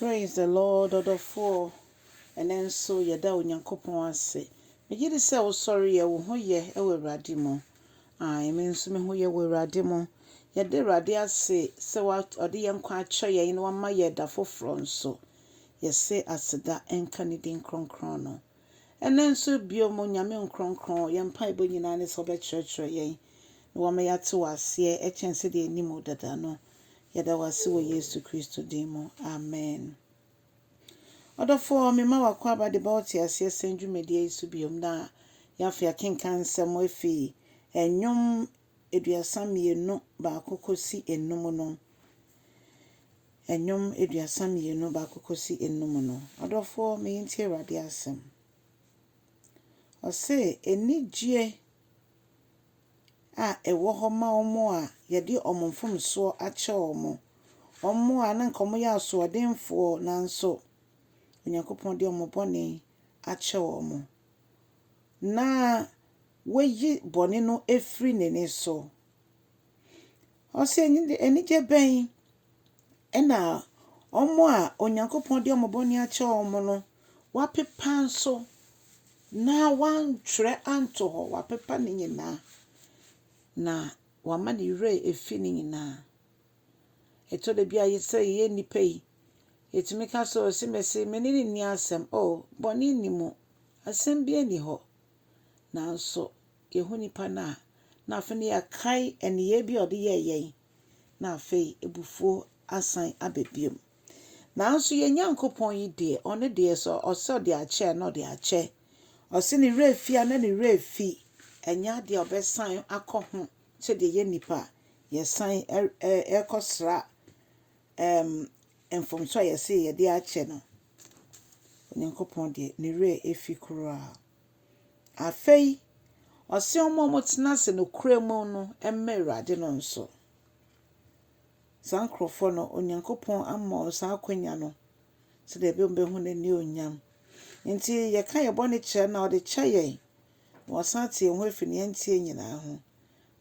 Praise the Lord ɔdɔfoɔ, ɛnɛ nso yɛda Onyankopɔn ase. Megye di sɛ wosɔre yɛ, wo ho yɛ wɔ Awurade mu. Ae, me nso me ho yɛ wɔ Awurade mu. Yɛda Awurade ase sɛ wa, ɔde yɛn nkwa akyɛ yɛn na wama yɛn da foforɔ nso. Yɛse aseda nka ne din kronkron no. Ɛnɛ nso bio mu Nyame Nkronkron, yɛn mpaebɔ nyinaa ne sɛ wobɛkyerɛkyerɛ yɛn na wama yɛate wo aseɛ kyɛn sɛdeɛ yɛnim wo dada no. Yɛda wo ase wɔ Yesu Kristo din mu, amen. Ɔdɔfoɔ, mema w'akwaaba de ba Ɔteaseɛ Sɛm dwumadie yi so biom na yɛn afei akenkan nsɛm efi Nnwom aduasa mmienu baako kɔsi nnum no. Nnwom aduasa mmienu baako kɔsi nnum no. Ɔdɔfoɔ, meyi nti Awurade asɛm. Ɔse, Anigyie a ɛwɔ hɔ ma wɔn a wɔde wɔn mfomsoɔ akyɛ wɔn, wɔn a na anka wɔyɛ asoɔdenfoɔ nanso Onyankopɔn de wɔn bɔne akyɛ wɔn, na wayi bɔne no afiri n'ani so, Ɔse anigye bɛn na wɔn a Onyankopɔn de wɔn bɔne akyɛ wɔn no, wɔapepa nso na wɔantwerɛ anto hɔ, wɔapepa ne nyinaa, na wɔama ne werɛ afi ne nyinaa. Ɛtɔ da bi a yɛ sɛ yɛyɛ nnipa yi, yɛtumi ka sɛ, ɔse mese me ne no nni asɛm. O, bɔne nni mu, asɛm biara nni hɔ. Nanso Yɛhu nipa no a, na afei no yɛakae nneyɛɛ bi a ɔde yɛɛ yɛn, na afei abufuo asan aba bio. Nanso yɛn Nyankopɔn yi deɛ, ɔno deɛ sɛ ɔsɛ ɔde akyɛ a, na ɔde akyɛ. Ɔse ne werɛ fi a, na ne werɛ fi. Ɛnyɛ adeɛ a ɔbɛsan akɔ ho sɛdeɛ yɛn nnipa yɛsan rekɔsra um, mfomso a yɛse yɛde akyɛ no. Onyankopɔn deɛ, ne werɛ fi koraa. Afei, ɔse wɔn a wɔtena ase nokorɛ mu no mmɛ Awurade no nso. Saa nkorɔfoɔ no, Onyankopɔn ama wɔn saa akwanya no sɛdeɛ ɛbɛyɛ wɔbɛhu n'anionyam. Nti yɛka yɛn bɔne kyerɛ no a, ɔde kyɛ yɛn, na wasan ate yɛn ho afiri nea ɛnteɛ nyinaa ho,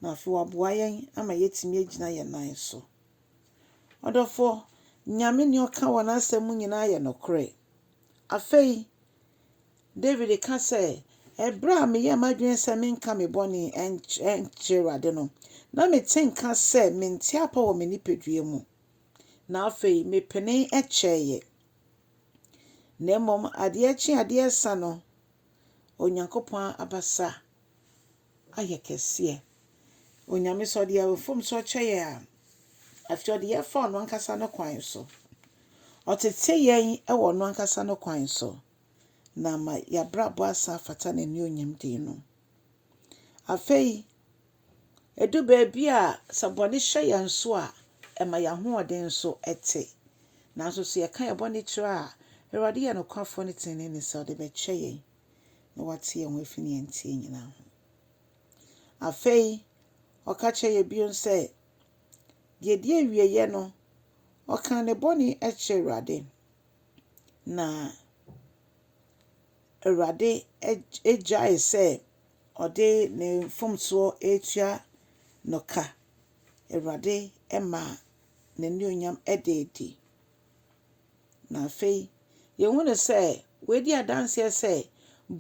na afei waboa yɛn ama yɛatumi agyina yɛn nan so. Ɔdɔfoɔ, Nyame nea ɔka wɔ n'asɛm mu nyinaa yɛ nokorɛ. Afei, Dawid ka sɛ, Ɛberɛ a meyɛɛ m'adwene sɛ menka me bɔne nkyerɛ Awurade no, na mete nka sɛ mente apɔ wɔ me nipadua mu, na afei mepenee kyɛeɛ. Na mmom adeɛ kye adeɛ sa no, Onyankopɔn abasa ayɛ kɛseɛ. Onyame sɛ ɔde mfomsoɔ kyɛ yɛn a, afei ɔde yɛn fa ɔno ankasa ne kwan so. Ɔtete yɛn wɔ ɔno ankasa ne kwan so na ama yɛabrabɔ asan afata n'anuonyam din no. Afei, ɛdu baabi a sɛ bɔne hyɛ yɛn so a, ɛma yɛn ahoɔden nso te. Nanso sɛ yɛka yɛn bɔne kyerɛ a, Awurade yɛ nokwafoɔ ne teneneeni sɛ ɔde bɛkyɛ yɛn. na ɔatse hɛn ho efi nea ntsie nyina ho. Afei, ɔka kyerɛɛ yɛn bio sɛ, deɛ ɛdi awieeɛ no, ɔkaa ne bɔne kyerɛɛ Awurade, na Awurade gyae sɛ ɔde ne mfomsoɔ retua no ka. Awurade maa n'anuonyam ɛda adi. Na afei, yɛhunu sɛ wɔadi adanseɛ sɛ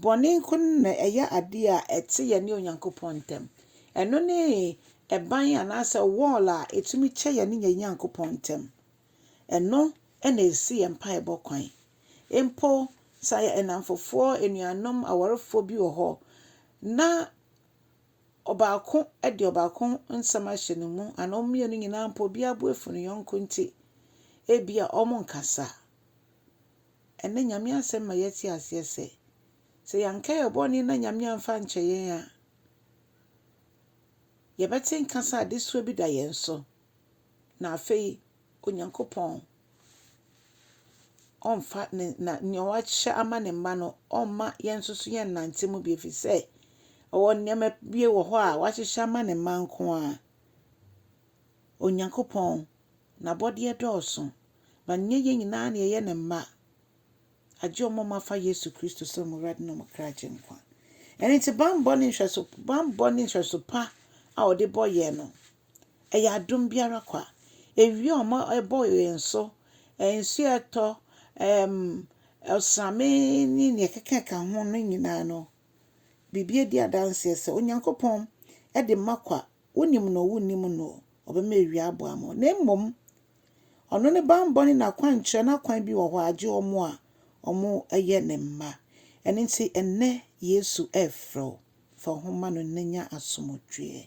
bɔne nko na ɛyɛ adeɛ a ɛte yɛne Onyankopɔn ntam. Ɛno ne ɛban anaasɛ wall a ɛtumi kyɛ yɛne yɛn Nyankopɔn ntam. Ɛno na ɛsi yɛn mpaebɔ kwan. Mpo sɛ nnamfofoɔ, anuanom, awarefoɔ bi wɔ hɔ na Ɔbaako de ɔbaako ho nsɛm ahyɛ ne mu anaa wɔn mmienu nyinaa mpo obiara bo afu ne yɔnko nti, ebia wɔnkasa. Ɛnnɛ Nyame asɛm ma yɛte aseɛ sɛ, sɛ yɛanka yɛn bɔne na Nyame amfa ankyɛ yɛn a, yɛbɛte nka sɛ adesoa bi da yɛn so. Na afei Onyankopɔn ɔmfa ne na nea wahyɛ ama ne mma no ɔmma yɛn nso so yɛn nante mu bi efiri sɛ ɔwɔ nneɛma bi wɔ hɔ a wahyehyɛ ama ne mma nko a Onyankopɔn n'abɔdeɛ dɔɔso ma nyɛ yɛn nyinaa na yɛyɛ ne mma. Agye wɔn a wɔafa Yesu Kristo sɛ wɔn Awurade ne wɔn kra Agyenkwa. Ɛno nti, bammɔ ne nhwɛso, bammɔ ne nhwɛso pa a wɔde bɔ yɛn no, ɛyɛ adom bi ara kwa. Ewia a wɔma ɛbɔ yɛn so, nsu a ɛtɔ, ɛm, ɔsrame ne nea ɛkekaka ho no nyinaa no, biribi adi adanseɛ sɛ Onyankopɔn de ma kwa, wonim no o, wonnim no o, ɔbɛma ewia abɔ ama wo. Na mmom, Ɔno ne banbɔ ne n'akwankyerɛ, n'akwan bi wɔ hɔ a, gye wɔn a wɔyɛ ne mma. Ɛno nti, ɛnnɛ Yesu refrɛ wo, fa wo ho ma no na nya asomdwoeɛ.